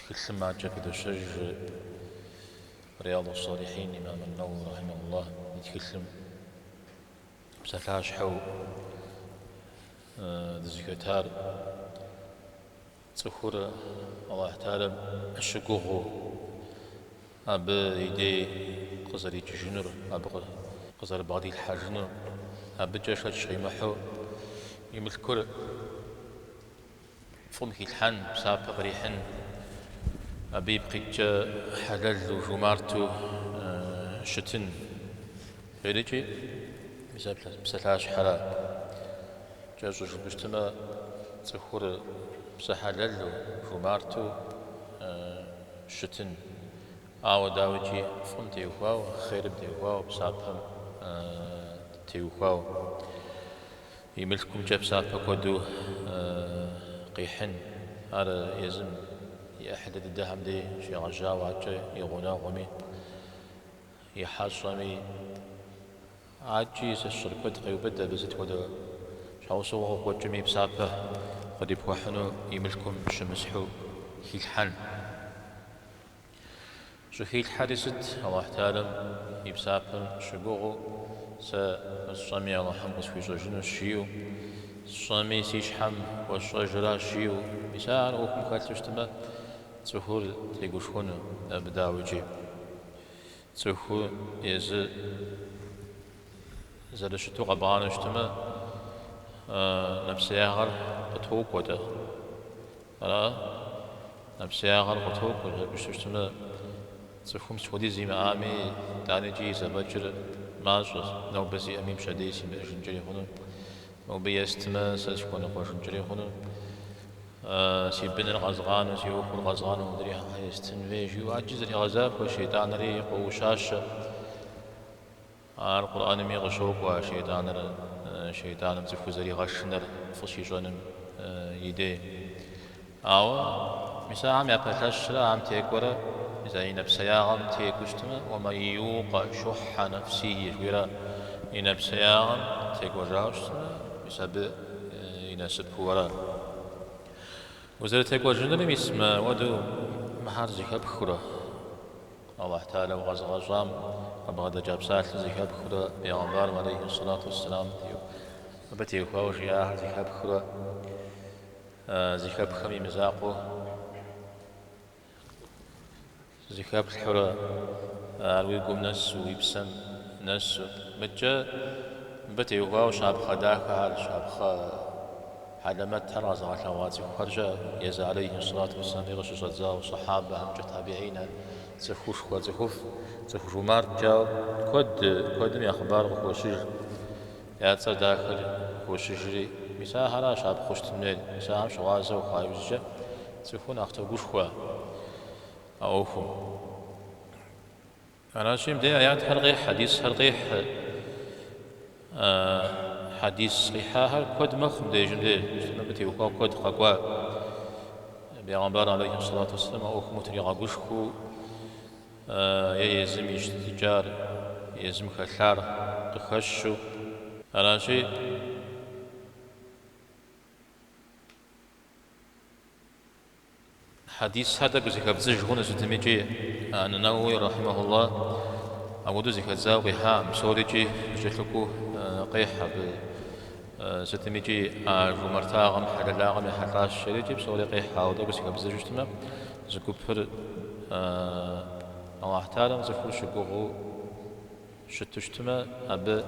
Тхылъым адэкӏэ къыпыдощэж Рияду-салихин имам ан-Навави рахьимахуллахь и тхылъым псалъащхьэу дызыхэтар цӏыхур Аллахь Таалям щыгугъыу абы и дей къызэрикӏыжынур, абы къызэрыбгъэдилъхьэжынур, абыкӏэ шэч щӏимыхьу и мылъкур Фӏым хилъхьэн, псапэ кърихьын, абы ипкъ иткӏэ хьэлэлу, жумарту щытын хуейри икӏи, мис ар псалъащхьэра. Кӏэщӏу жыпӏэу щытмэ, цӏыхур псэ хьэлэлу, жумарту щытын. Ауэ дауикӏи, фӏым теухуауэ, хъерым теухуауэ, псапэм теухуауэ. И мылъкумкӏэ псапэ куэду къихьын, ар езым и ӏыхьлы дыдэхэм дей щегъэжьауэ адэкӏэ и гъунэгъуми, и хьэщӏэми. Адэкӏи сэ сщӏэрэ куэд къеубыд абы сыт хуэдэ щхьэусыгъуэ къыкъуэкӏыми, псапэ къырипхуэхьыну и мылъкум щымысхьу хилъхьэн. Щӏыхилъхьэри сыт Алыхь Таалям и псапэм щыгугъыу, сэ сщӏэми Алыхьым къысхуищӏэжынущ жиӏэу, сщӏэми си щхьэм хуэсщӏэжыращ жиӏэу, мис ар ӏуэхум хэлъу щытмэ, цӏыхур тегушхуэну абы дауикӏи. Цӏыху езы зэрыщыту къэбгъанэу щытмэ, нэпсеягъэр къытокӏуэ-тӏэ, Ара, нэпсеягъэр къытокӏуэ, жыпӏэу щытмэ, цӏыхум сыт хуэдиз имыӏами, итӏаникӏи зэфӏэкӏыр мащӏэщ, нобэ сиӏэми пщэдей симыӏэжынкӏэри хъуну, нобэ естмэ, сэ сыхуэныкъуэжынкӏэри хъуну, си быныр къэзгъану, си ӏуэхур къэзгъану модрейм щхьэ естын хуей, жиӏэу адэкӏи зэрегъэзахуэ, шейтӏанри къоӏущащэ. Ар Къурӏэнми къыщокӏуэ шейтӏаныр, шейтӏаным цӏыхур зэригъэшынэр фӏы щищӏэным и дей. Ауэ мис ахэм япэлъэщрэ ахэм текӏуэрэ езы и нэпсеягъэм текӏуу щытмэ, уэмэн иукъэ щухьэ нэфсихи жыхуиӏэра и нэпсеягъэм текӏуэжауэ щытмэ, мис абы и насыпу ара. Узэрытекӏуэжынур мис мыуэду мыхэр зэхэпхыурэ, Аллахь Тааля укъэзыгъэщӏам къыбгъэдэкӏа псалъэр зэхэпхыурэ пегъэмбарым алейхи ссалату уэсселам абы теухуауэ жиӏахэр зэхэпхыурэ зэхэпхэм и мызакъуэ зэхэплъхьурэ ар уи гум нэсу, уи псэм нэсу. Мыдэкӏэ мыбы теухуауэ щапхъэ дахэхэр, щапхъэ Хьэлэмэт ар къэзыгъэлъэгъуа цӏыхухэркӏэ езы Алейхьи ссалату уэсселами къыщыщӏэдзауэ сахьабэхэмкӏэ, табигьинэ, цӏыхушхуэ цӏыхуфӏ, цӏыху жумарткӏэ куэд, куэдым я хъыбар къыхощыж, я цӏэ дахэр къыхощыжри. Мис ахэращ щапхъэу щытын хуейр, мис ахэм щыгъуазэ ухъуа иужькӏэ цӏыхур нэхъ тогушхуэ а ӏуэхум. Аращи, мыбдеж аятхэр къихь, хьэдисхэр къихь. Хьэдис къихьахэр куэд мэхъу мыбдежым де, абы теухуа куэд къэкӏуа. Бегъымбар алейхи салату вассалам а ӏуэхум утригъэгушхуэу е езым и щытыкӏар, езым хэлъар къыхэщу. Аращи, Хьэдисхэр тӏэкӏу зэхэбдзыж хъуну, сытми икӏи Ан-Науауи рахьимэхулла апхуэдэу зэхэдзауэ къихьакъым, псори икӏи зэкӏэлъыкӏуу къехь абы. Сытми икӏи а жумартагъэм, хьэлэлагъэм ехьэлӏащ жери икӏи псори къехь, ауэ тӏэкӏу зэхэбдзыжу щытмэ, зы гупыр Аллахьталэм цӏыхур щыгугъыу, Щыту щытмэ, абы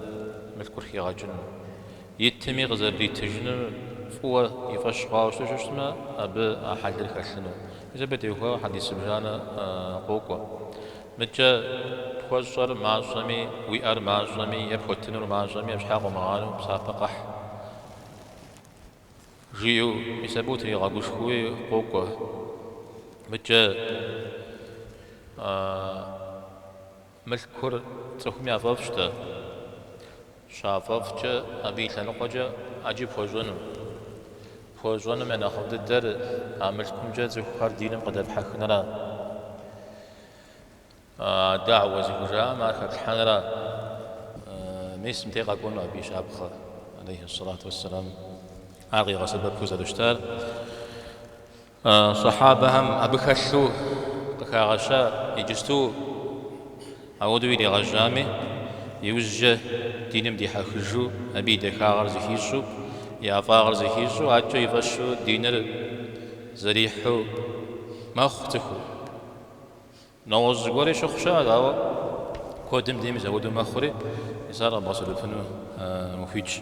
мылъкур хигъэкӏыну. Итми къызэрыритыжынур фӏыуэ и фӏэщ хъуауэ щыту щытмэ, абы а хьэлыр хэлъыну. Мис абы теухуауэ хьэдис зыбжанэ къокӏуэ. Мыдкӏэ пхуэщӏэр мащӏэми, уиӏэр мащӏэми е пхуэтынур мащӏэми абы щхьэ къомыгъанэу псапэ къэхь, жиӏэу, мис абы утригъэгушхуэуи къокӏуэ. Мыдкӏэ. Мылъкур цӏыхум яфӏэфӏщ-тӏэ, щафӏэфӏкӏэ абы и лъэныкъуэкӏэ ӏэджи пхуэщӏыну. Пхуэщӏэным я нэхъыфӏ дыдэр а мылъкумкӏэ цӏыхухэр диным къыдэпхьэхынра, дагьуэ зыхужаӏэм ар хэплъхьэнра. Мис мыдей къэкӏуэну абы и щапхъэр, алейхьэссалату уассалам, ар къигъэсэбэпу зэрыщытар. Сахьабэхэм абы хэлъу къыхагъэща иджысту ауэдэу иригъэжьами, иужькӏэ диным дихьэхыжу, абы и дахагъыр зыхищӏу, и ӏэфӏагъыр зыхищӏу, адэкӏэ и фӏэщу диныр зэрихьу мэхъу цӏыхур. Нэгъуэщӏ зыгуэрри щыхъу щыӏэ, ауэ куэдым де мис ауэдэу мэхъури, мис ар къэбгъэсэбэпыну ухуитщ.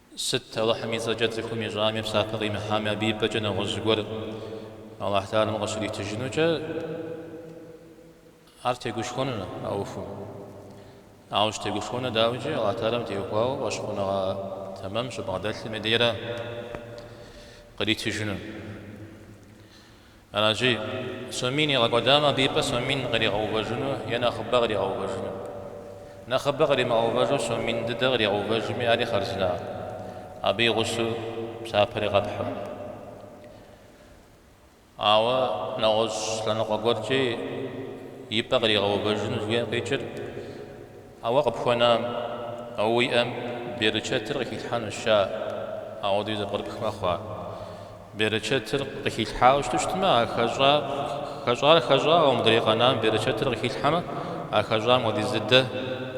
Сыт Алыхьым и цӏэкӏэ цӏыхум ищӏами, псапэ къимыхьами, абы и пӏэкӏэ нэгъуэщӏ зыгуэр Аллахьталэм къыщритыжынукӏэ ар тегушхуэнур а ӏуэхум. Ауэ щытегушхуэнур дауикӏи, Аллахьталэм теухуауэ фӏэщхъуныгъэ тэмэм щыбгъэдэлъым дейра къритыжынур. Аращи, сомин игъэкӏуэдамэ абы и пӏэ сомин къригъэувэжыну е нэхъыбэ къригъэувэжыну. Нэхъыбэ къримыгъэувэжу сомин дыдэ къригъэувэжми ари хъарзына, абы и гъусэу псапэри къэпхьу. Ауэ нэгъуэщӏ лъэныкъуэ гуэркӏи и пӏэ къригъэувэжыну жиӏэн къикӏыр. А уэ къыпхуэнам, а уиӏэм берычэтыр къыхилъхьэнущ, ща, ауэдэуи зэпкърыпхмэ хъуа. Берычэтыр къыхилъхьауэ щыту щытмэ, а хэщӏа, хэщӏар хэщӏауэ, мыдрей къэнам берычэтыр къыхилъхьэмэ, а хэщӏам хуэдиз дыдэ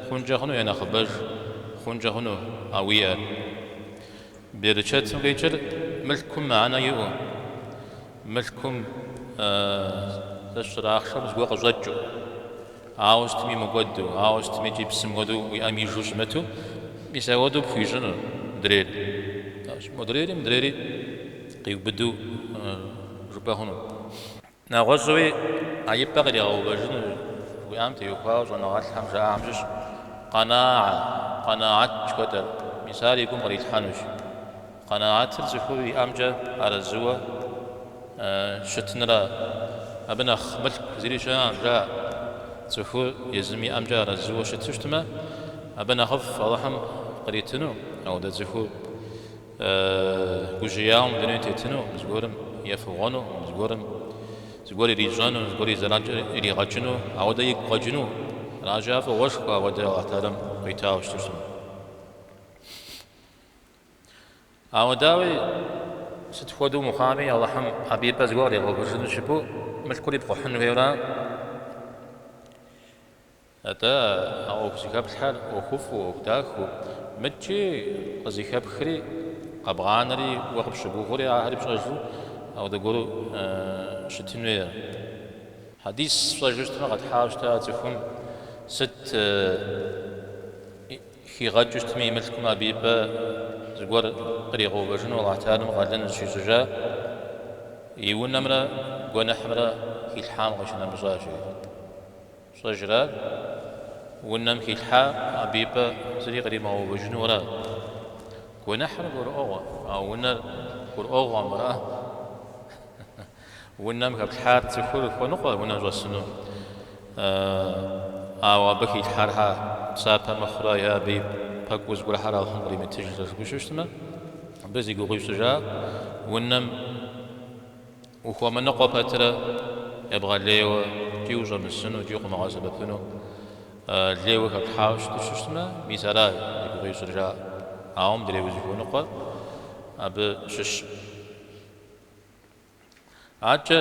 хъункӏэ хъуну е нэхъыбэж хъункӏэ хъуну а уиӏэр? Берычэтым къикӏыр мылъкум мыхьэнэ иӏэу. Мылъкум, сэ сщӏэрэ, ахъшэм зыгуэр къыщӏэкӏыу, ауэ сытми мыкӏуэду, ауэ сытми икӏи псым хуэдэу уи ӏэм ижу щымыту, мис апхуэдэу пхуищӏынур мыдрейр. Аращи, модрейри мыдрейри къиубыду жыпӏэ хъуну. Нэгъуэщӏуи а и пӏэ къыригъэувэжыну жыхуиӏам теухуауэ щӏэныгъэлӏхэм жаӏахэм щыщ къэнаа, къэнаат жыхуэтӏэр, мис ар и гум кърилъхьэнущ. Къэнаатыр цӏыхур иӏэмкӏэ арэзыуэ щытынра. Абы нэхъ мылъку зыри щыӏэкъым, жаӏэ. Цӏыхур езым иӏэмкӏэ арэзыуэ щыту щытмэ, абы нэхъыфӏ Алыхьым къритыну, ауэдэ цӏыхур гужьеяуэ мы дунейм тетыну, зыгуэрым ефыгъуэну, зыгуэрым зыгуэр ирищӏэну, зыгуэр и зэранкӏэ иригъэкӏыну, ауэдэ игу къэкӏыну, аращи, ар фӏыгъуэшхуэ ауэдэ Алыхьталэм къуитауэ щыту щытмэ. Ауэ дауи, сыт хуэдэу мыхъуами, Алыхьым абы и пӏэ зыгуэр къыригъэувэжыну жыпӏэу мылъкур ипкъухьын хуейуэра? Атӏэ, а ӏуэху зыхэплъхьэр ӏуэхуфӏу, ӏуэху дахэу, мыдкӏи къызыхэпхри, къэбгъанэри уэ къыпщыгугъыури ахэри пщӏэжу апхуэдэ гуэру щытын хуейр? Хьэдис сщӏэжу щытмэ, къэтхьауэ щыта цӏыхум сыт Хигъэкӏыу щытми и мылъкум абы и пӏэ зыгуэр къригъэувэжыну Алыхь Теалэм къалэн зыщищӏыжа и унэмрэ гуэныхьымрэ хилъхьам къищынэмыщӏа, жеӏэ. Фщӏэжра? Унэм хилъхьам абы и пӏэ зыри къримыгъэувэжынура? Гуэныхьыр гурыӏуэгъуэ, ауэ унэр гурыӏуэгъуэ хьэмэрэ? Унэм хэплъхьар цӏыхур хуэныкъуэ унэм щӏэсыну, ауэ абы хилъхьар хьэ псапэ мыхъурэ е абы и пэкӏуэу зыгуэрхэр Алыхьым къримытыжрэ жыпӏэу щытмэ, абы зи гугъу ищӏыр, жаӏэ, унэм ухуэмыныкъуэ пэтрэ ебгъэлейуэ икӏи ущӏэмысыну икӏи укъымыгъэсэбэпыну лейуэ хэплъхьауэ щыту щытмэ, мис ара зи гугъу ищӏыр, жаӏэ. Ауэ мыдрей узыхуэныкъуэр абы щыщ. Аркӏэ,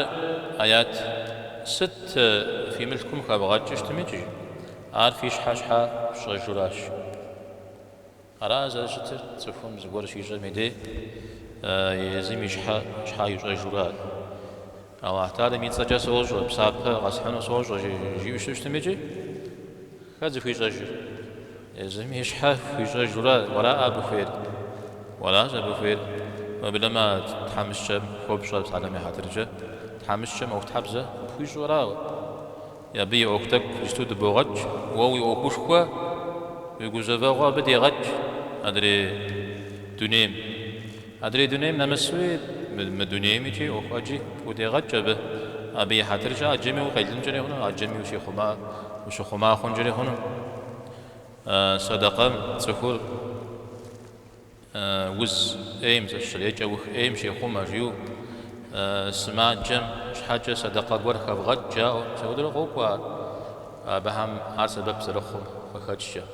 аят, сыт фи мылъкум хэвгъэкӏыу щытым икӏи, ар фи щхьэ щхьэ фщӏэжуращ. Ара зэрыщытыр, цӏыхум зыгуэр щищӏэм и дей езым и щхьэ щхьэ ищӏэжуращ. Аллахь Тэхьэлам и цӏэкӏэ сощӏэ, псапэ къэсхьыну сощӏэ, жиӏэу щыщытым икӏи, хэт зыхуищӏэжыр? Езым и щхьэ хуищӏэжурэ уэра абы хуейр? Уэращ абы хуейр. Уеблэмэ тхьэмыщкӏэм хуопщӏэ псалъэм я хьэтыркӏэ, тхьэмыщкӏэм ӏуэхутхьэбзэ къыпхуищӏурэ абы и ӏуэху тӏэкӏу иджыпсту дыбогъэкӏ, уэ уи ӏуэхушхуэ, уи гузэвэгъуэ абы дегъэкӏ адрей дунейм. Адрей дунейм нэмысуи, мы дунейм икӏи ӏуэху ӏэджи пхудегъэкӏ абы. Абы и хьэтыркӏэ ӏэджэми укъелынкӏэри хъуну, ӏэджэми ущыхъума хъункӏэри хъуну. Сэдэкъэм цӏыхур уз ӏейм, зыщрекӏэ ух ӏейм щехъумэ жиӏэу, сымаджэм щхьэкӏэ сэдэкъэ гуэр хэвгъэкӏ жаӏэу, псэудурэ къокӏуэ ар, абыхэм ар сэбэп зэрыхъум къыхэкӏкӏэ.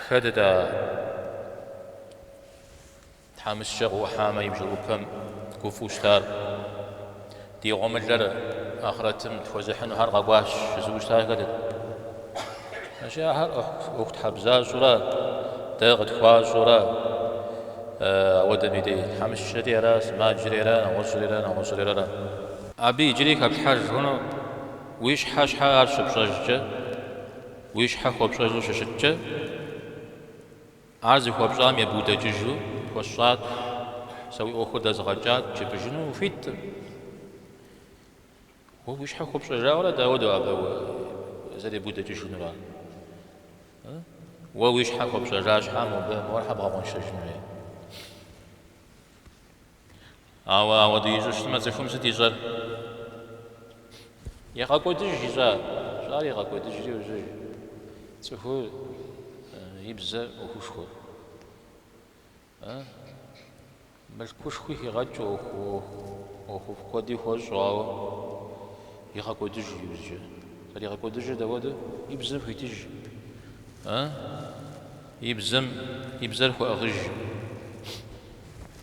Хэтэт а тхьэмыщкӏэ къыӏухьамэ и бжыӏупэм гуфӏу щытар. Ди гъуэмылэр ахърэтым тхуэзыхьынухэр къэкӏуащ жызыӏэу щытар хэтэт? Ащи ахэр ӏуэхутхьэбзащӏэурэ дэ къытхуащӏэурэ ауэдэм и дей, тхьэмыщкӏэри ара, сымаджэри ара, нэгъуэщӏри ара, нэгъуэщӏри ара. Абы иджыри хэплъхьэж хъуну уи щхьэ щхьэ ар щыпщӏэжкӏэ? Уи щхьэ хуэпщӏэжу щыщыткӏэ, ар зыхуэпщӏам ебудэкӏыжу хуэсщӏат, сэ уи ӏуэхур дэзгъэкӏат жыпӏэжыну ухуиттым. Уэ уи щхьэ хуэпщӏэжауэрэ дауэдэ абы зэребудэкӏыжынура? Уэ уи щхьэ хуэпщӏэжа щхьа мо мор хьэ бгъэкъуэншэжыну? Ауэ ауэдэу ищӏу щытмэ, цӏыхум сыт ищӏэр? Егъэкӏуэдыж ищӏа? Ищӏар егъэкӏуэдыжри ужьыж. Цӏыхур и бзэр ӏуэхушхуэ. Мылъкушхуи хигъэкӏ ӏуэху куэди хуэщӏу, ауэ егъэкӏуэдыж иужьы. Зэригъэкӏуэдыжыр дауэдэу? И бзэм хуитыж. И бзэм и бзэр хуэӏыгъыж.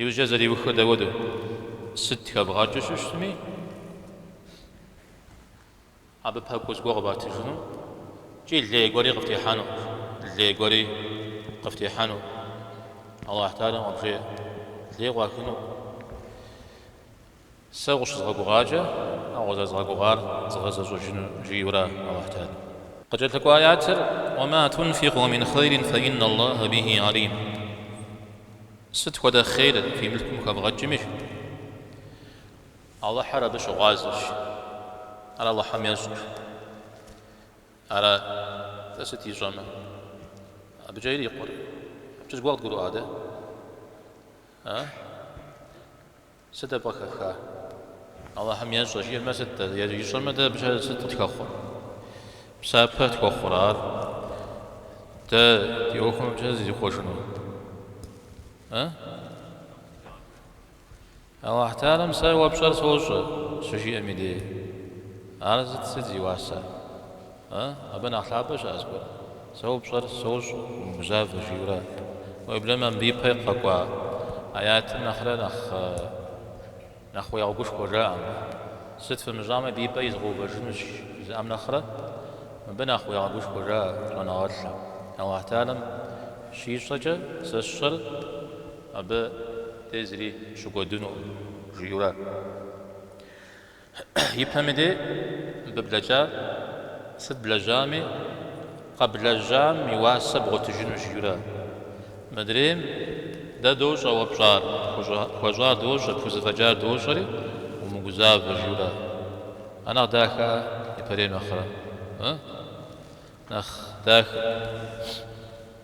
Иужькӏэ зэриухыр дауэду? Сыт хэбгъэкӏыу щыщытми, абы пэкӏуэу зыгуэр къыбатыжыну икӏи лей гуэри къыфтехьэну, лей гуэри къыфтехьэну Алыхь Тэхьэлам къыбжеӏэ, лей къуахыну. Сэ укъыщызгъэгугъакӏэ, а укъызэрызгъэгугъар згъэзэщӏэжыну, жиӏэурэ Алыхьталэм. Къыкӏэлъыкӏуа аятыр, Уэ мэ тунфикъу мин хъейрин фэ инна Аллахьэ бихьи гьалим. Сыт хуэдэ хъейр фи мылъкум хэвгъэкӏми, Алыхьыр абы щыгъуазэщ. Ар Алыхьым ещӏэ. Ара-тӏэ сыт ищӏэмэ, абыкӏэ ирикъур? Абыкӏэ зыгуэр къыдгурыӏуа дэ? А? Сыт абы къыхэфха? Алыхьым ещӏэ, жиӏэмэ сыт-тӏэ? Ищӏэмэ дэ абы сыт къытхэхъуэр? Псапэ тхуэхъурэ ар? Дэ ди ӏуэхум абы щхьэ зызихъуэжыну? Э? Алыхьталэм сэ уэ пщӏэр сощӏэ, щыжиӏэм и дей. Ар сыт сыт зи уасэ? А? Абы нэхъ лъапӏэ щыӏэ зыгуэр? Сэ уэ пщӏэр сощӏэ, умыгузавэ, жиӏэурэ. Уеблэмэ мыбы ипэ къэкӏуа аятым нэхърэ нэхъ уегъэгушхуэ жаӏэ. Сыт фымыщӏамэ, абы и пӏэ изгъэувэжынущ жызыӏэм нэхърэ, мыбы нэхъ уегъэгушхуэ жаӏэ щӏэныгъэлӏым. Алыхьталэм щищӏэкӏэ сэ сщӏэр абы дей зыри щыкӏуэдынукъым, жиӏэурэ. Ипэм и дей мыбы блэкӏар сыт блэжьами, къэблэжьам и уасэ бгъуэтыжыну жиӏэурэ? Мыдрейм дэ дощӏэ уэ пщӏар, пхуэщӏар дощӏэ, пхузэфӏэкӏар дощӏэри, умыгузавэ жиӏэурэ? Ар нэхъ дахэ а ипэрейм нэхърэ? Ы? Нэхъ дахэ.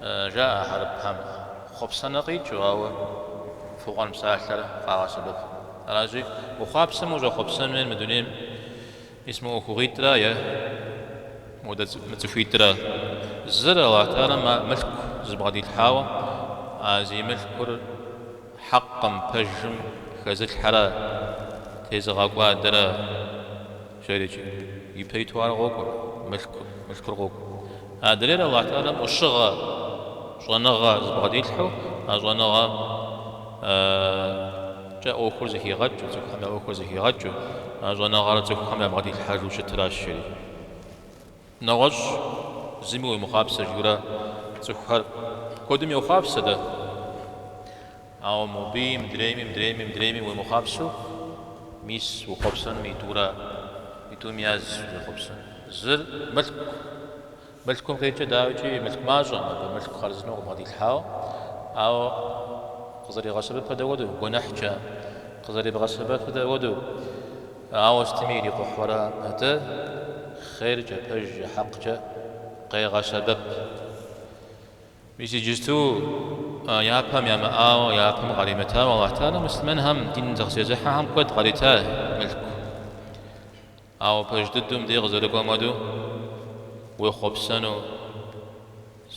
Жаӏэ а хьэрыпхэм. Хъуэпсэнэ къикӏыу, ауэ фыгъуэн псалъэр къагъэсэбэп. Аращи, ухъуапсэм ущӏэхъуэпсэн хуейр мы дунейм ис мы ӏуэхугъуитӏрэ е мы цӏыхуитӏрэ. Зыр Алыхьталэм а мылъку зыбгъэдилъхьауэ, а зи мылъкур хьэкъым, пэжым, хэзылъхьэрэ, тезыгъэкӏуадэрэ. Жери икӏи ипэ иту ар къокӏуэр, мылъкур, мылъкур къокӏуэ. Адрейр Алыхьталэм ӏущыгъэ, щӏэныгъэ зыбгъэдилъхьэу, а щӏэныгъэмкӏэ ӏуэхур зыхигъэкӏыу, цӏыхухэм я ӏуэхур зыхигъэкӏыу, а щӏэныгъэр цӏыхухэм ябгъэдилъхьэжу щытыращ, жери. Нэгъуэщӏ зыми уемыхъуапсэ жиӏэурэ цӏыхухэр куэдым йохъуапсэ дэ. Ауэ моби мыдрейми, мыдрейми, мыдрейми уемыхъуапсэу, мис ухъуэпсэнум мы тӏура, мы тӏум яз уехъуэпсэн. Зыр мылъку. Мылъкум къикӏыр дауикӏи мылъку мащӏэм, абы мылъку хъарзынэу къыбгъэдилъхьауэ, ауэ къызэригъэсэбэпыр дэ хуэдэу, гуэныхькӏэ къызэрыбгъэсэбэпыр дэ хуэдэу. Ауэ сытми ирикъухьурэ пэтэ, хъеркӏэ, пэжкӏэ, хьэкъкӏэ къегъэсэбэп. Мис иджысту япэм ямыӏауэ, япэм къаримытауэ Аллахь Тэхьэла муслъымэнхэм дин зыкъызезыхьэхэм куэд къарита мылъку. Ауэ пэж дыдэу мыдэ къызэрыкӏуэм хуэдэу уехъуэпсэнущ.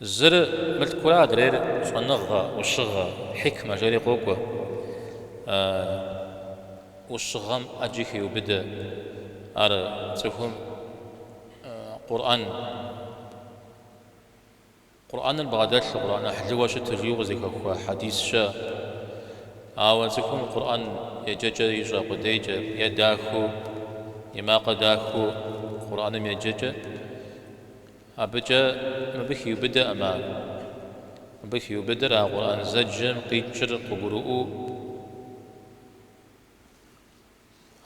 Зыр мылъкура адрейр щӏэныгъэ, ӏущыгъэ, хьикмэ жери къокӏуэ. ӏущыгъэм ӏэджи хеубыдэ. Ар цӏыхум Къурӏэн, Къурӏэныр бгъэдэлъу, Къурӏэн ӏыхьлыуэ щыту жиӏэу къызыхэхуа хьэдис щыӏэ. Ауэ цӏыхум Къурӏэн еджэкӏэ ищӏэ къудейкӏэ, е дахэу, е макъ дахэу Къурӏэным еджэкӏэ. Абыкӏэ мыбы хиубыдэкъым ар. Мыбы хиубыдэр а Къурӏэн зэджэм къикӏыр къыгурыӏуэу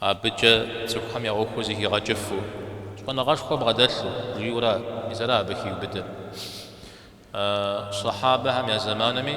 абыкӏэ цӏыхухэм я ӏуэхур зыхигъэкӏыфу, щӏэныгъэшхуэ бгъэдэлъу жиӏэу ара, мис ара абы хиубыдэр. Сахьабэхэм я зэманми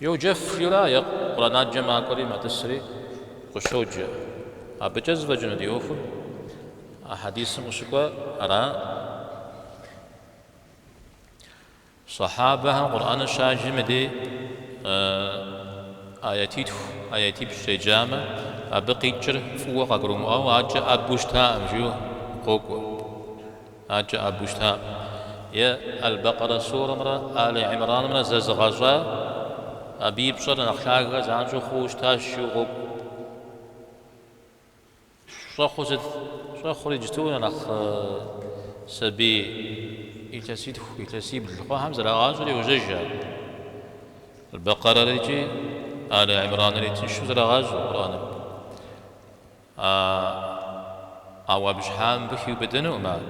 Йоджэфри, е Къуранаджэ макӏуэри матӏысри къыщоджэ. Абыкӏэ зэфӏэкӏыну ди ӏуэхур а хьэдисым къыщыкӏуэ ара? Сахьабэхэм Къураныр щаджэм и дей аятитху, аятипщӏ щеджамэ, абы къикӏыр фӏыуэ къагурымыӏуэу, адэкӏэ ӏэбэу щытаӏым жиӏэу къокӏуэ. Адэкӏэ ӏэбэу щытаӏым. Е Аль-Бэкъэрэ сурэмрэ Али-Имранымрэ зэзыгъэщӏа, абы и пщӏэр нэхъ лъагэ занщӏэу хъууэ щытащ жиӏэу къокӏуэ. Щӏэхъур сыт? Щӏэхъур иджысту нэхъ сабий илъэситху, илъэсибл хъуахэм зэрагъащӏэри йожьэж ар. Аль-Бэкъэрэр икӏи Али-Имранри тыншу зэрагъащӏэ Къурӏэным. А ауэ абы щхьа мыбы хиубыдэнукъым, ар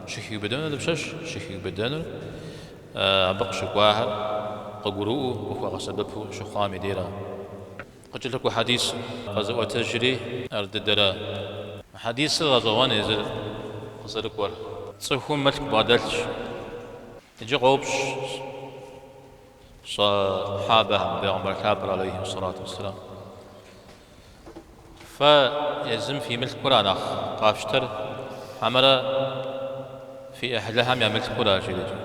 щыхиубыдэнур дапщэщ, щыхиубыдэнур абы къыщыкӏуахэр къыгурыӏуэу, къыхуэгъэсэбэпу щыхъуам и дейра. Къыкӏэлъыкӏуэ хьэдисыр къэзыӏуэтэжри ар дыдэра. Хьэдисыр гъэщӏэгъуэн езыр къызэрыкӏуэр. Цӏыхум мылъку бгъэдэлъщ. Иджы къоупщӏ сахьабэхэм, Пегъымбар лъапӏэр алейхьи сэлату уэсселам, Фэ езым фи мылъкура нэхъ къафщтэр, хьэмэрэ фи ӏыхьлыхэм я мылъкура? жиӏэкӏэ.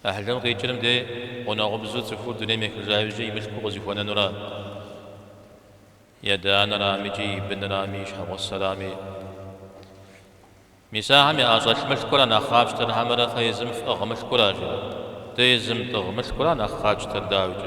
ӏыхьлым къикӏыр мыдей гъунэгъубзу цӏыхур дунейм ехыжа иужькӏэ и мылъкур къызыхуэнэнура. И адэ-анэрами икӏи и бынрами, и щхьэгъусэрами. Мис ахэм я ӏэщӏэлъ мылъкура нэхъ къафщтэр, хьэмэрэ фэ езым фӏыгъ мылъкура? жиӏэкӏэ. Дэ езым тӏыгъ мылъкура нэхъ къатщтэр, дауикӏ.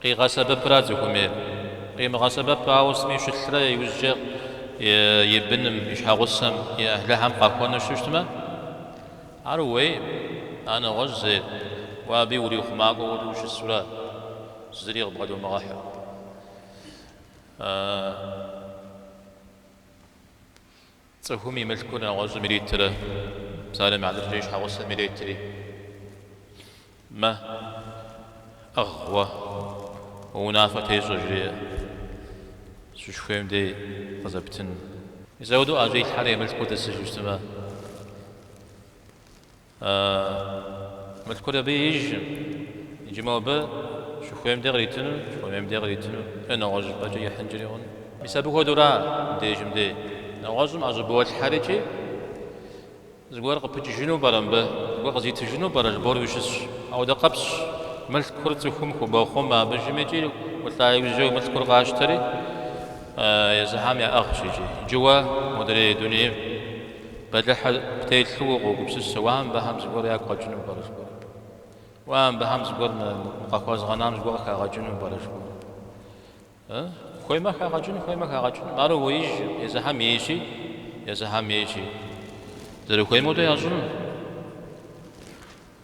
Къигъэсэбэпрэ цӏыхум е къимыгъэсэбэпу ауэ сытми щылърэ иужькӏэ и быным, и щхьэгъусэм, и ӏыхьлыхьэм къахуэну щытмэ, ар уейм, ар нэгъуэщӏщ зейр, уэ абы урихъумакӏуэу уэри ущысурэ, зыри къыбгъэдумыгъэхьэу. Цӏыхум и мылъкур нэгъуэщӏым иритрэ псалъэм и хьэтыркӏэ и щхьэгъусэм иритри. Мэ, ӏыгъ, уэ, уэ унафэ тещӏэ, жреӏэ, сыщыхуейм дей къызэптыну. Мис ауэдэу ӏэщӏилъхьэрэ и мылъкур тӏысыжу щытмэ? А мылъкур абы еижщ, иджы мобы щыхуейм де къритыну, щыхуэмейм де къритыну, е нэгъуэщӏ щӏыпӏэкӏэ ихьынкӏэри хъуну. Мис абы хуэдэура мыбдежым де? Нэгъуэщӏым ӏэщӏыболъхьэрикӏи, зыгуэр къыпыкӏыжыну пӏэрэ мыбы, зыгуэр къызитыжыну пӏэрэ жыбоӏэри ущысщ. Ауэдэ къабзэщ мылъкур цӏыхум хубохъумэ, абы жыми икӏи улӏа иужь мылъкур къащтэри, езыхьэм яӏыгъщ иджы. Иджы уэ модрей дунейм. Бэлыхьу птелъу укъогупсысэ, уэ мыбыхэм зыгуэр ягу къэкӏыну пӏэрэ жыхуэу? Уэ мыбыхэм зыгуэр къахуэзгъэнам зыгуэр къыхагъэкӏыну пӏэрэ жыхуэу? Хуеймэ хагъэкӏыну, хуеймэ хагъэкӏынум, ар уеижь, езыхьэм ейщи, езыхьэм ейщи, зэрыхуейм хуэдэ ящӏыну.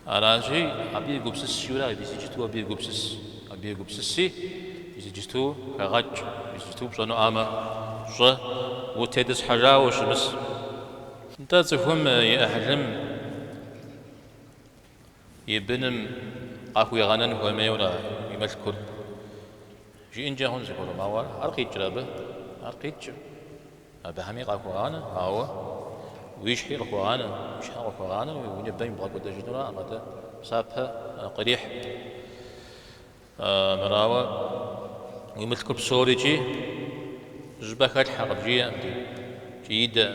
Аращи, абы егупсыс жиӏэура, мис иджыту абы егупсыс. Абы егупсыси, мис иджыту хэгъэкӏ, мис иджыту пщӏэнуӏамэ щӏы, утетӏысхьэжауэ ущымыс. Нтӏэ, цӏыхум и ӏыхьлым и быным къахуигъэнэн хуэмейуэра и мылъкур? Жиӏэнкӏэ хъунщ зыгуэрым, ауэ ар къикӏрэ абы? Ар къикӏкъым. Абыхэми къахуэгъанэ, ауэ уи щхьи къыхуэгъанэ, уи щхьэ къыхуэгъанэу уи ныбэм ибгъэкӏуэдэжынураӏым, атӏэ псапэ кърихь. Мырауэ, уи мылъкур псорикӏи щӏыпӏэ хэлъхьэ, къыбжиӏэм икӏи идэӏым.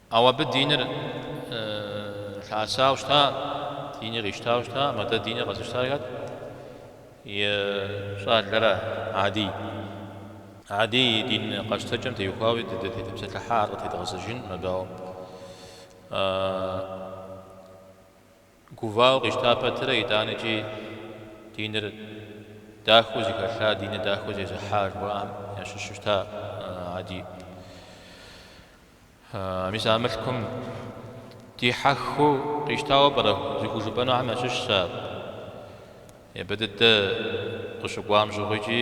Ауэ абы диныр лъэӏэсауэ щыта, дини къищтауэ щыта, мыдэ диныр къэзыщтар хэт? И щӏалэра Адий. Адий и дин къэщтэкӏэм теухуауи дытепсэлъыхьа ар къытедгъэзэжынӏым, ауэ. Гувауэ къищта пэтрэ итӏанэкӏи диныр дахэу зыхэлъа, диныр дахэу зезыхьа жыхуаӏэм ящыщу щыта Ади. Мис а мылъкум дихьэхыу къищтауэ пӏэрэ зыхужыпӏэнухэм ящыщщ ар. Япэ дыдэ къыщыкӏуам щыгъуи икӏи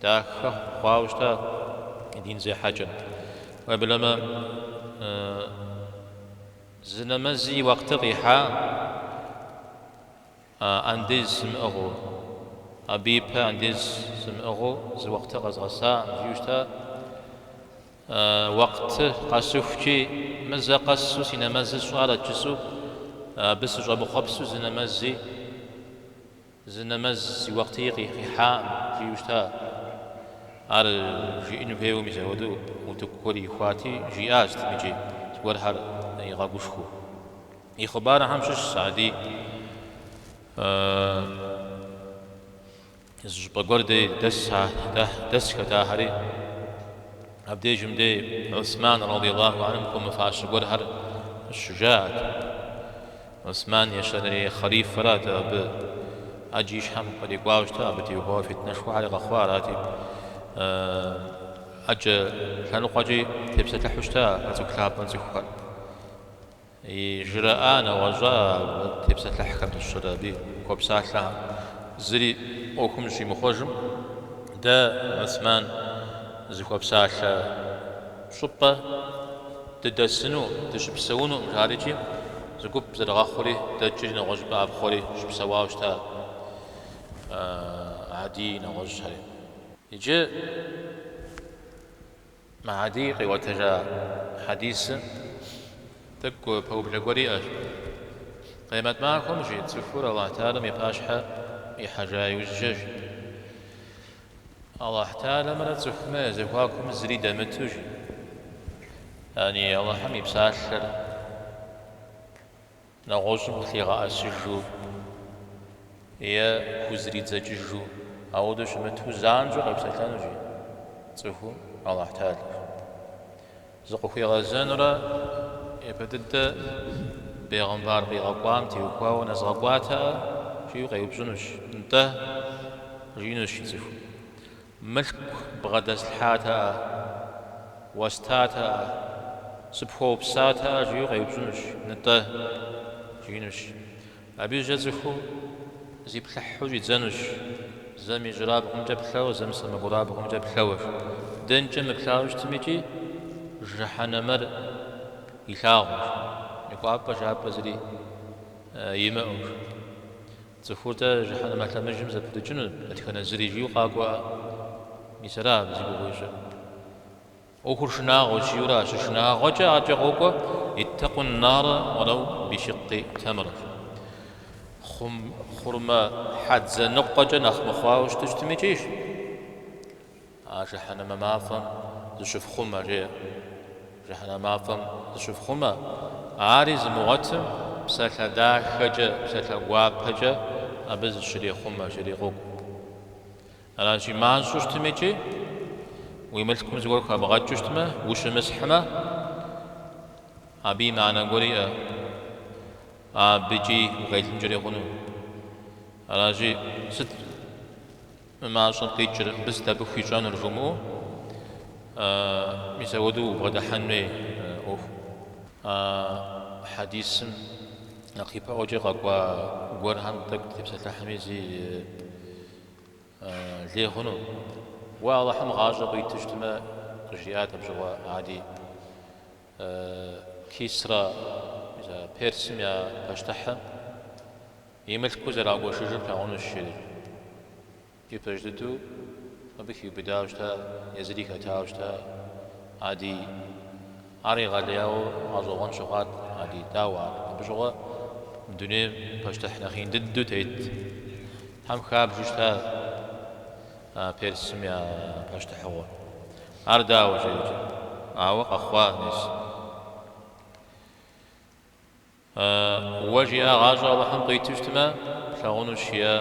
Дахэ хъуауэ щыта и дин зехьэкӏэ. Уеблэмэ, зы нэмэзи и уэкъты къихьа, андез сымыӏыгъыу, абы ипэ андез сымыӏыгъыу зы уэкъты къэзгъэса, жиӏэу щыта, уэкъты къэсыхукӏи, мы зэ къэсу си нэмэзыр сщӏарэт жысӏэу, абы сыщӏэмыхъуэпсу зы нэмэзи. Зы нэмэзи и уэкъты къихьакъым, жиӏу щыта. Ар жиӏэну хуейуэ мис апхуэдэу утыку гуэр ихуати, жиӏа щытым икӏи зыгуэрхэр игъэгушхыу. И хъыбархэм щыщщ Гьадий зы щӏыпӏэ гуэр дей дэсхэт ахэри. Абдежым дей Гӏусман радийаллаху анхум хуэмыфащэ гуэрхэр къыщыжаӏэт. Гӏусман ещанэрей хъэлифэрат, абы ӏэджэ и щхьэм кърикӏуауэ щыта, абы теухуауэ фитнэшхуэхьэри къэхъуа арати, ӏэджэ лъэныкъуэкӏи тепсэлъыхьу щыта а цӏыху лъапӏэм цӏыхухэр. Ижраӏа, нэгъуэщӏа а тепсэлъыхьхэм дыщэрэ абы хуэпсалъэхэм зыри ӏуэхум зыщимыхъуэжым дэ, Гӏусман зыхуэпсалъэ. Щӏыпӏэ дыдэсыну, дыщыпсэунукъым жари икӏи, зы гуп зэрыгъэхъури, дэкӏри, нэгъуэщӏыпӏэ ӏэпхъуэри щыпсэуауэ щыта Гьадийи нэгъуэщӏхэри. Иджы мы Гьадий къигъуэтэжа хьэдисым тӏэкӏу пэублэ гуэр иӏэщ. Къиэмэт махуэм жи цӏыхур Алыхь Тэгьалэм и пащхьэ ихьэжа иужькӏэ. Алыхь Тэгьалэмрэ цӏыхумрэ я зэхуакум зыри дэмыту, жи. Яни Алыхьым и псалъэр нэгъуэщӏым къылъигъэӏэсыжу е хузридзэкӏыжу, ауэдэу щымыту, занщӏэу къепсэлъэнущ, жи, цӏыхум Алыхь Тэгьалэр. Зыкъыхуигъэзэнурэ япэ дыдэ бегъымбар къигъэкӏуам теухуауэ нэзгъэкӏуатэӏэ? жиӏэу къеупщӏынущ. Нтӏэ, жиӏэнущ, жи, цӏыхум. Мылъку бгъэдэслъхьатэӏэ? Уэстатэӏэ? Сыпхуэупсатэӏэ? жиӏэу къеупщӏынущ. Нтӏэ, жиӏэнущ. Абы иужькӏэ цӏыхум зиплъыхьу щӏидзэнущ, зэм ижьырабгъумкӏэ плъэу, зэм сэмэгурабгъумкӏэ плъэущ. Дэнкӏэ мыплъауэ щытым икӏи, жыхьэнэмэр илъагъущ, и кӏуапӏэ жапӏэ зыри имыӏэущ. Цӏыхур-тӏэ жыхьэнэмэ лъэмыжым зэпырыкӏыну дэтхэнэ зыри жиӏэу къакӏуэӏэ? Мис ара абы зи гугъу ищӏыр. ӏуэхур шынагъуэщ, жиӏэурэ а щышынагъуэкӏэ аркӏэ къокӏуэ, Иттакъу н-нара уалэу бишыккъи тэмрэ. Хъурмэ хьэдзэ ныкъуэкӏэ нэхъ мыхъуауэ щыт щытми икӏи, жи, а жыхьэнэмэ мафӏэм зыщыфхъумэ, жеӏэ. Жыхьэнэмэ мафӏэм зыщыфхъумэ, ари зымыгъуэтым, псалъэ дахэкӏэ, псалъэ гуапэкӏэ абы зыщрехъумэ, жери къокӏу. Аращи, мащӏэу щытми икӏи уи мылъкум зыгуэр хэбгъэкӏыу щытмэ, ущымысхьмэ, абы и мыхьэнэ гуэр иӏэ, абыкӏи укъелынкӏэри хъуну. Аращи, сыт мы мащӏэм къикӏыр, мыбы сыт абы хуищӏэнур жумыӏэу, мис апхуэдэу убгъэдыхьэн хуей ӏуэху. А хьэдисым нэхъ ипэӏуэкӏэ къэкӏуа гуэрхэм тӏэкӏу утепсэлъыхьми зи лей хъуну. Уэ Алыхьым гъащӏэ къуиту щытмэ, къыжриӏат абы щыгъуэ Гьади, Кисрэ, Персым я пащтыхьым, и мылъку зэрагуэшыжыр плъагъунущ жери. Ипэж дыдэу абы хиубыдауэ щыта, езыри хэтауэ щыта Гьади. Ар егъэлеяуэ гъэщӏэгъуэн щыхъуат Гьади, дауэ ар? Абы щыгъуэ мы дунейм пащтыхь нэхъ ин дыдэу тетхэм хабжу щытащ а Персым я пащтыхьыгъуэр. Ар дауэ жи икӏи, ауэ къэхъуа мис. Уэ жиӏа гъащӏэ Алыхьым къуиту щытмэ, плъагъунущ, жиӏэ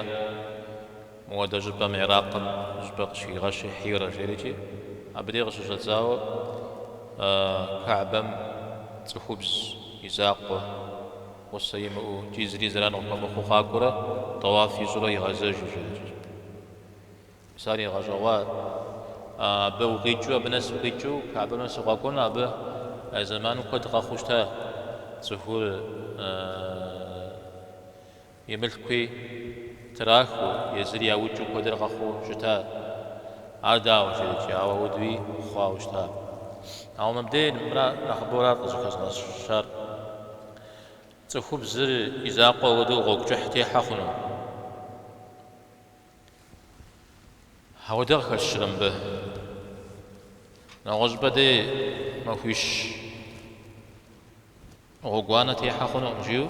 модэ щӏыпӏэм Иракъым щӏыпӏэ къыщыхигъэщи Хьирэ жери икӏи. Абы дей къыщыщӏэдзауэ Каабэм цӏыхубз и закъуэ, гъусэ имыӏэу, икӏи зыри зэран къыхуэмыхъуу къакӏуэрэ, тӏэуаф ищӏурэ игъэзэжу жери икӏи. Мис ар игъэщӏэгъуа. Абы укъикӏыу, абы нэс укъикӏыу, Каабэм нэс укъэкӏуэну, абы зэманым куэд къэхъуу щыта, цӏыхур и мылъкуи трахыу, езыр яукӏыу куэдрэ къэхъуу щыта. Ар дауэ жи икӏи, ауэ апхуэдэуи хъуауэ щыта. Ауэ мыбдей мыра нэхъыбэу арат къызыхэзгъэщар. Цӏыхубзыр и закъуэ хуэдэу гъуэгу кӏыхь техьэ хъуну? Ауэдэ къыхэщрэ мыбы? Нэгъуэщӏыпӏэ дей махуищ гъуэгуанэ техьэ хъунукъым, жиӏэу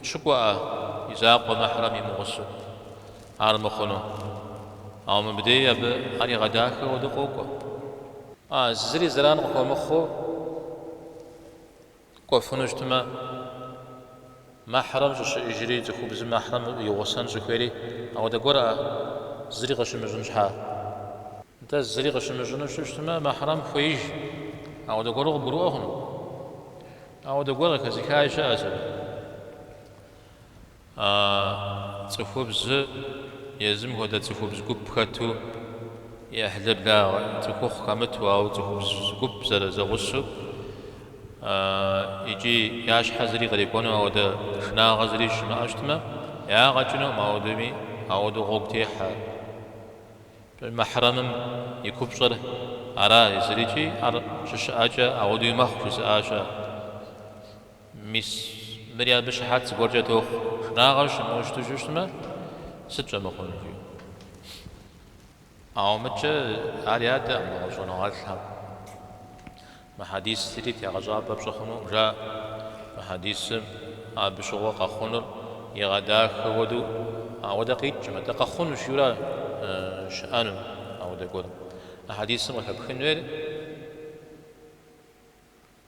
щыкӏуэӏэ и закъуэ мэхьрэм имыгъусэу ар мыхъуну. Ауэ мыбдеи абы ар игъэдахэ хуэдэу къокӏуэ. А, зыри зэран къыхуэмыхъуу Кӏуэфыну щытмэ, мэхьрэм щӏыщыӏэжри, цӏыхубзым мэхьрэм и гъусэн щӏыхуейри ауэдэ гуэркъэ, зыри къыщымыщӏын щхьа? Нтӏэ, зыри къыщымыщӏыну щыщытмэ, мэхьрэм хуеиж ауэдэ гуэру къыбгурыӏуэ хъуну? Ауэдэ гуэр къыхэзыхаи щыӏэщ абы. А цӏыхубзыр езым хуэдэ цӏыхубз гуп хэту, и ӏыхьлыблагъэ цӏыхухъу хэмыту, ауэ цӏыхубз гуп зэрызэгъусэу икӏи я щхьэ зыри кърикӏуэну ауэдэ шынагъэ зыри щымыӏэу щытмэ, ягъэ кӏынукъым, ауэдэми ауэдэу гъуэгу техьэ. Мэхьрэмым и купщӏэр ара, езырикӏи ар щыщыӏэкӏэ ауэдэуи мэхъу, жызыӏа щыӏэщ. Мис, мыри абы щыхьэт зыгуэркӏэ тохъуэ, шынагъэр щымыӏэу щыту щыщытмэ, сыт щӏэмыхъунур, жи. Ауэ мыдкӏэ ар ядэкъым мы щӏэныгъэлӏхэм. Мы хьэдисри тегъэщӏапӏэ пщӏы хъунукъым, жаӏэ. Мы хьэдисым абы щыгъуэ къэхъунур игъэдахэ хуэдэу ауэдэ къикӏкъым, атӏэ къэхъунущ жиӏэу ара щыӏэну ауэдэ гуэр. Мы хьэдисым къыхэпхын хуейр.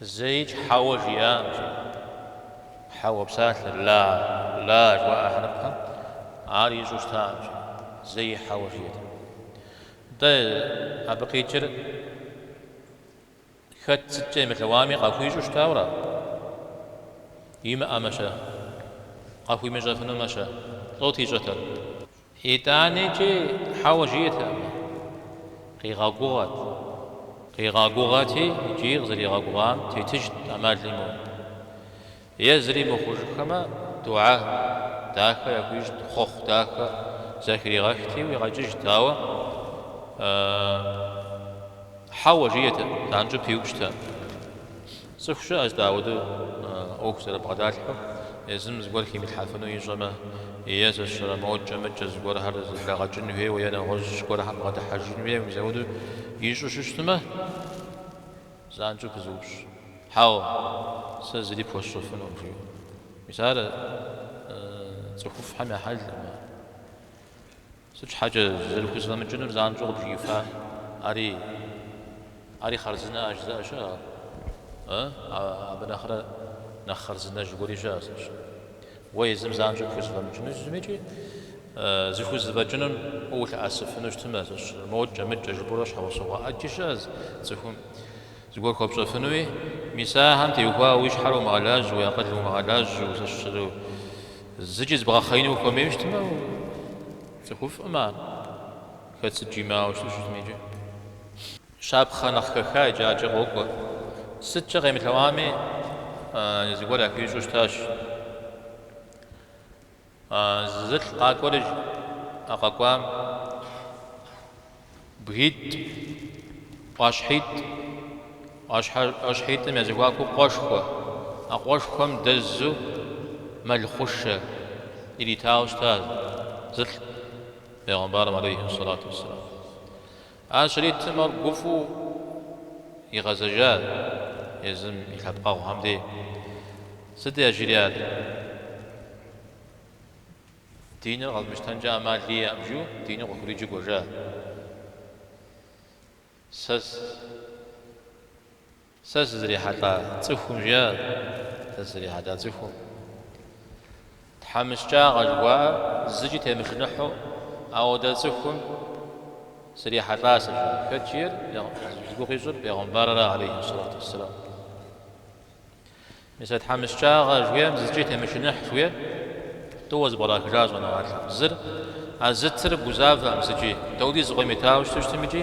Зэи хьэуэ жиӏакъым. Хьэуэ псалъэр, ла, ла жыуаӏэ хьэрыпхэм ар ищӏу щытакъым. Зэи хьэуэ жиӏэтэкъым. Дэ абы къикӏыр хэт сыткӏэ емылъэӏуами къахуищӏу щытауэра? Имыӏэмэ-щэ? Къахуимыщӏэфынумэ-щэ? Сыт ищӏэтэр. Итӏаникӏи хьэуэ жиӏэтэкъым. Къигъэгугъэт. Къигъэгугъэти, икӏи къызэригъэгугъам тетыжт ӏэмал имыӏэу. Е зыри мыхъужыххэмэ, духьэ дахэ яхуищӏт, хъуэхъу дахэ зэхригъэхти, уигъэкӏыжт, ауэ хьэуэ жиӏэтэкъым, занщӏэу пиупщӏтэкъым. Цӏыху щыӏэщ дэ ауэдэу ӏуэху зэрыбгъэдалъхьэу, езым зыгуэр химылъхьэфыну ищӏэмэ, езэшрэ мокӏэ-мыкӏэ зыгуэрхэр зэблэгъэкӏын хуейуэ е нэгъуэщӏ зыгуэрхэм бгъэдыхьэжын хуейуэ мис ауэдэу ищӏу щыщытмэ, занщӏэу пызыупщӏ, Хьэуэ, сэ зыри пхуэсщӏэфынукъым, жиӏэу. Мис ар цӏыхуфӏхэм я хьэлкъым. Сыт щхьэкӏэ зэрыхузэфӏэмыкӏынур занщӏэу къыбжиӏэфар? Ари, ари хъарзынэкъэ, жызыӏэ щыӏэщ. Ы, абы нэхърэ нэхъ хъарзынэжь гуэри щыӏэщ. Уэ езым занщӏэу пхузэфӏэмыкӏыну щытми икӏи зыхузэфӏэкӏынум уэ улъэӏэсыфыну щытмэщ. Мокӏэ, мыкӏэ жыпӏэурэ щхьэусыгъуэ ӏэджи щыӏэщ цӏыхум. Зыгуэр хуэпщӏэфынуи, мис ахэм теухуауэ уи щхьэр умыгъэлажьэу, уи акъылыр умыгъэлажьэу, ущысрэ, зыкӏи зыбгъэхъеину ухуэмейуэ щытмэ, цӏыхуфӏкъым ар хэт сыт жимыӏауэ щыту щытми икӏи. Щапхъэ нэхъ хэха иджы акӏэ къокӏуэ. Сыткӏэ къемылъэӏуами, зыгуэр яхуищӏу щытащ. Зылӏ къакӏуэри, жи, а къэкӏуам. Бгитӏ, ӏуащхьитӏ, ӏуащхьэ, ӏуащхьитӏым я зэхуакуу къуэшхуэ, а къуэшхуэм дэзу мэл хъушэ иритауэ щыта зылӏ Пегъымбарым алейхи сэлату уэсселам. Ар щритым ар гуфӏэу игъэзэжат езым и лъэпкъэгъухэм де. Сыт яжриӏат? Диныр къэзмыщтэнкӏэ ӏэмал иӏэкъым жиӏэу диныр къыхуриджу кӏуэжат. Сэ Сэ сызрихьэлӏа цӏыхум, жиӏэр сэ сызрихьэлӏа цӏыхум. Тхьэмыщкӏагъэ жыхуаӏэр зыкӏи темышыныхьу, ауэдэ цӏыхум срихьэлӏа сэ, жиӏэр. Хэт жиӏэр? Зи гугъу ищӏыр Пегъымбарыр алейхьи сэлату уссэлам. Мис а тхьэмыщкӏагъэ жиӏэм зыкӏи темышыныхь жиӏэ, тӏууэ зэпкърахыжа щӏэныгъэлӏ зыр, а зытыр гузавэкъым зыкӏи, дауэдиз къимытауэ щыту щытми икӏи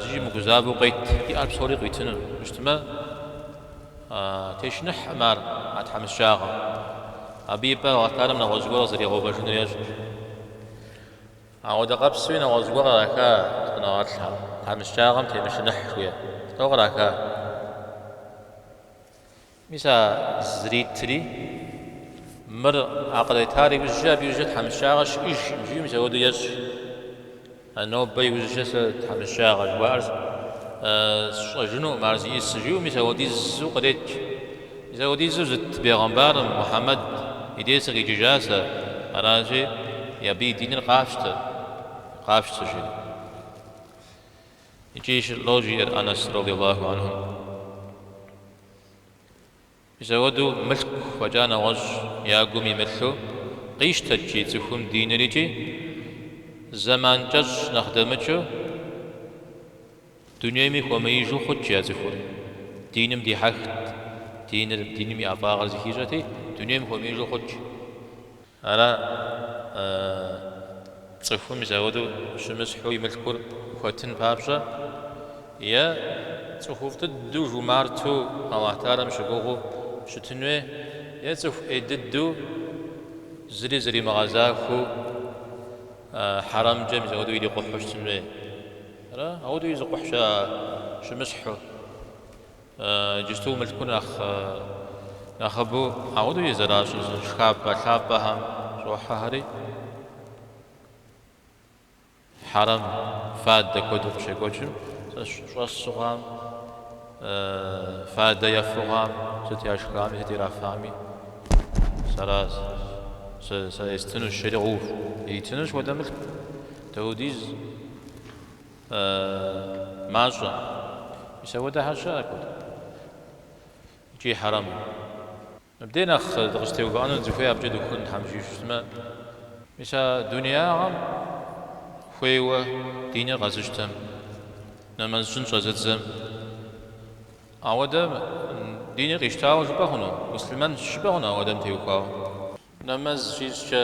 зыкӏи мыгузавэу къет, иӏэр псори къитыну щытмэ, тешыныхькъым ар а тхьэмыщкӏагъэм, абы и пӏэ Алыхь Таалэм нэгъуэщӏ гуэр къызэригъэувэжыну ещӏэщ. Ауэдэ къабзэуи нэгъуэщӏ гуэр къраха щӏэныгъэлӏхэм, тхьэмыщкӏагъэм темышыныхь жыхуиӏэ тӏэу къраха. Мис а зритри, мыр а къритар иужькӏэ абы иужькӏэ тхьэмыщкӏагъэ щыӏэжкъым жиӏэу мис ауэдэу ещӏ жи. А нобэ иужькӏэ сэ тхьэмыщкӏагъэ жыхуаӏэр сщӏэжынукъым, ар зиӏыс жиӏэу мис ауэдизу кърет жи. Мис ауэдизу зыт бегъымбарым Мухьэмэд и де сыкъикӏыжа сэ, аращи, абы и диныр къафщтэ, къафщтэ, жи. Икӏи щылӏэу жиӏэр Анэс радиаллаху анхум. Мисауэду мылъку фӏэкӏа нэгъуэщӏ я гум имылъу къищтэт жи цӏыхум диныр икӏи, зэман кӏэщӏ нэхъ дэмыкӏыу, Дунейми хуэмеижу хъут жи а цӏыхур. Диным дихьэхт, диныр, диным и ӏэфӏагъыр зыхищӏэти, дунейм хуэмеижу хъут жи. Ара цӏыхум мисауэдэу щымысхьу и мылъкур хуэтын папщӏэ, е цӏыхуфӏ дыдэу жумарту Алыхь Таалэм щыгугъыу щытын хуей, е цӏыху ӏей дыдэу зыри зэримыгъэзахуэу хьэрэмкӏэ мисауэдэу ирикъухьу щытын хуей. Ара, ауэдэу изыкъухь щыӏэ щымысхьу, иджысту мылъкур нэхъыбэу ауэдэу изэращӏыр зы шхапӏэ лъапӏэхэм щӏохьэхэри, хьэрэм фадэ куэду къыщекӏуэкӏым, щӏэсу хъуам, фадэ ефу хъуам, сыт яшхами, сыт ирафами, сэращ, сэ естынущ жери къоув, итынущ хуэдэ мылъку. Даудиз мащӏэ. Мис ауэдэхэр щыӏэкъэ икӏи хьэрэму. Мыбдей нэхъ дыкъыстеувыӏэну дызыхуей абыкӏэ дыхуэкӏуэн Тхьэм жиӏэу щытмэ. Мис а дунеягъэм хуейуэ диныр къэзыщтэм, нэмэз щӏын щӏэзыдзэм ауэдэм диныр къищтауэ жыпӏэ хъуну? Муслъымэн жыпӏэ хъуну ауэдэм теухуауэ? Нэмэз щищӏкӏэ.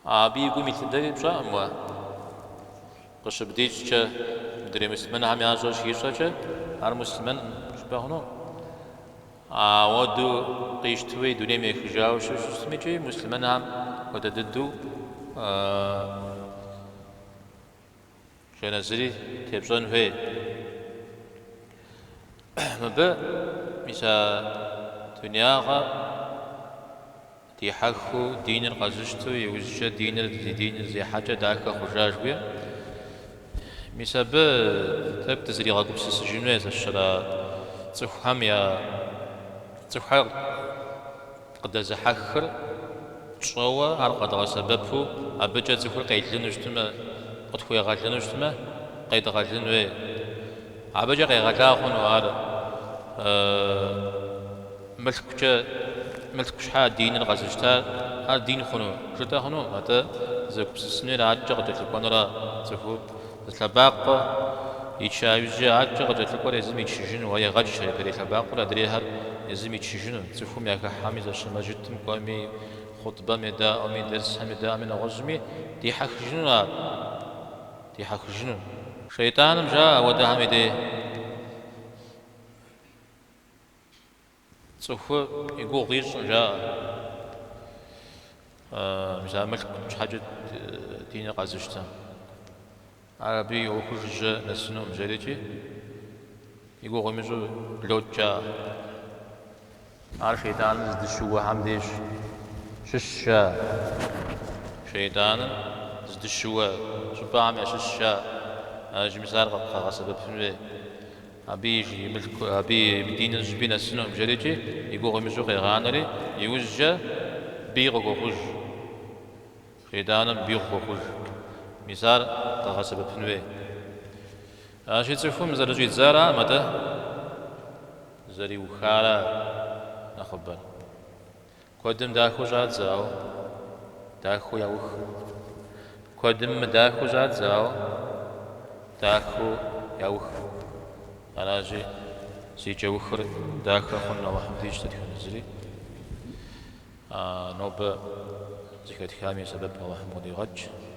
Абы и гум илъ дыдэри пщӏэкъым уэ. Къыщыбдищӏкӏэ, мыдрей муслъымэнхэм ящӏэр щищӏэкӏэ, ар муслъымэн жыпӏэ хъуну. Ауэду къищтауи, дунейм ехыжауэ щытми икӏи муслъымэнхэм хуэдэ дыдэу. Жэназыри тепщӏэн хуей. Мыбы мис а дунягъэ дихьэхыу диныр къэзыщту, иужькӏэ диныр, и диныр зехьэкӏэ дахэ хъужа жгуи, мис абы тӏэкӏу дызригъэгупсысыжыну езыщэра цӏыхухэм я цӏыхухэр Къыдэзыхьэхыр тщӏэуэ, ар къэдгъэсэбэпу абыкӏэ цӏыхур къелыну щытмэ, къытхуегъэлыну щытмэ, къедгъэлын хуей. Абыкӏэ къегъэла хъуну ар мылъкукӏэ, мылъку щхьа диныр къэзыщта, ар дин хъуну, жытӏэ хъуну, атӏэ зэгупсысынур адэкӏэ къыкӏэлъыкӏуэнура цӏыхур? Зы лъэбакъуэ ича иужькӏэ адэкӏэ къыкӏэлъыкӏуэр езым ичыжыну, уэ егъэч адрей лъэбакъуэр адрейхэр езым ичыжыну, цӏыхум яхыхьэми, зэщ мэжджытым кӏуэми, хъутбэм едаӏуэми, дерсхэм едаӏуэми, нэгъуэщӏми дихьэхыжыну ар, дихьэхыжыну. Шейтӏаным жаӏэ ауэдэхэм и дей. Цӏыху и гугъу ищӏкъым жаӏэ, мис ар мылъку щхьэкӏэ диныр къэзыщтэ. Ар абы и ӏуэхур жыжьэ нэсынукъым жери икӏи, и гугъу имыщӏу блокӏ жаӏэ. Ар шейтӏаныр зыдыщыуэхэм деж щыщщ жаӏэ. Шейтӏаныр зыдыщыуэ щӏыпӏэхэм ящыщщ жаӏэ. Ар жи мис ар къэбгъэсэбэпын хуей. Абы и жи, и мылъку, абы и диныр зыщӏыпӏи нэсынукъым, жэрикӏи, и гугъу имыщӏу къегъанэри, иужькӏэ бий къыхуэхъуж. Шейтӏаным бий къыхуэхъуж. Мис ар къэгъэсэбэпын хуей. Аращи, цӏыхум зэрыщӏидзаракъым атӏэ, зэриухара нэхъыбэр. Куэдым дахэу щӏадзауэ дахэу яух. Куэдым мыдахэу щӏадзауэ дахэу яух. Аращи, зи кӏэухыр дахэ хъун Алыхьым дищӏ дэтхэнэ зыри. Нобэ зыхэтхам и сэбэп Алыхьым къыдигъэкӏ.